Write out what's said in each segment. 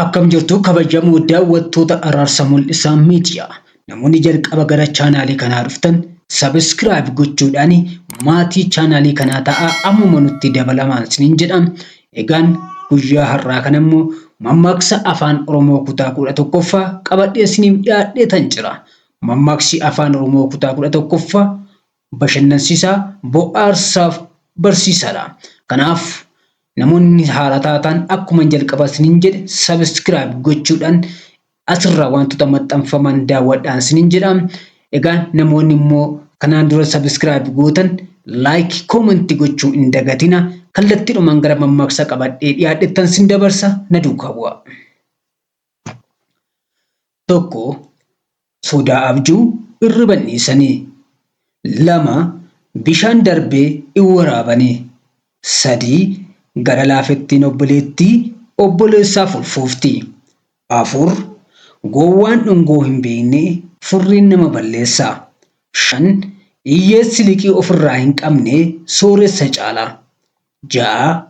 Akkam jirtu kabajamoo daawwattoota Araarsa Mul'isaa Miidiyaa. Namoonni jalqaba gara chaanaalii kanaa dhuftan sabiskiraayib gochuudhaan maatii chaanaalii kanaa ta'aa ammuma nutti dabalamaan isiniin jedha. Egaan guyyaa har'aa kana immoo mammaaksa Afaan Oromoo kutaa 11ffaa qabadhee isiniif dhiyaadheetan jira. Mammaaksi Afaan Oromoo kutaa 11ffaa bashannansiisaa, bohaarsaaf barsiisaadha. Kanaaf namoonni haaraa taatan akkuman jalqaba isiniin jedhe subscribe gochuudhaan Asirraa waantota maxxanfaman daawwadhaan isiniin jedha. Egaa namoonni immoo kanaan dura subscribe gootan like, comment gochuu hin dagatina. Kallattiidhumaan gara mammaaksa qabadhee dhiyaadhettan sin dabarsa na duukaa bu'aa. Tokko sodaa abjuu irriba hin dhiisanii. Lama bishaan darbee hin waraabanii. Sadii gara laafettiin obboleettii obboleessaaf ulfoofti. 4, Gowwaan dhungoo hin beekne furriin nama balleessa. 5, Iyyeessi liqii of irraa hin qabne sooressa caala. 6,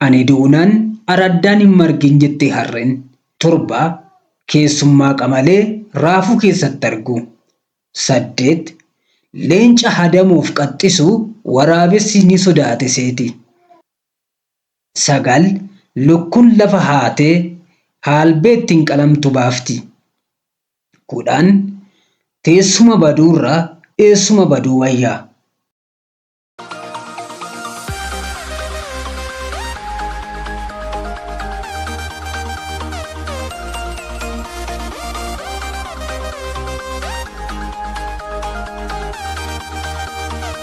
Ani duunaan araddaan hin margin jette harreen. 7, Keessummaa qamalee raafuu keessatti argu. 8, Leenca hadamoof qaxxisu waraabessi ni sodaate seeti. 9, Lukkun lafa haatee haalbee ittiin qalamtu baafti. 10, Teessuma baduurra eessuma baduu wayya.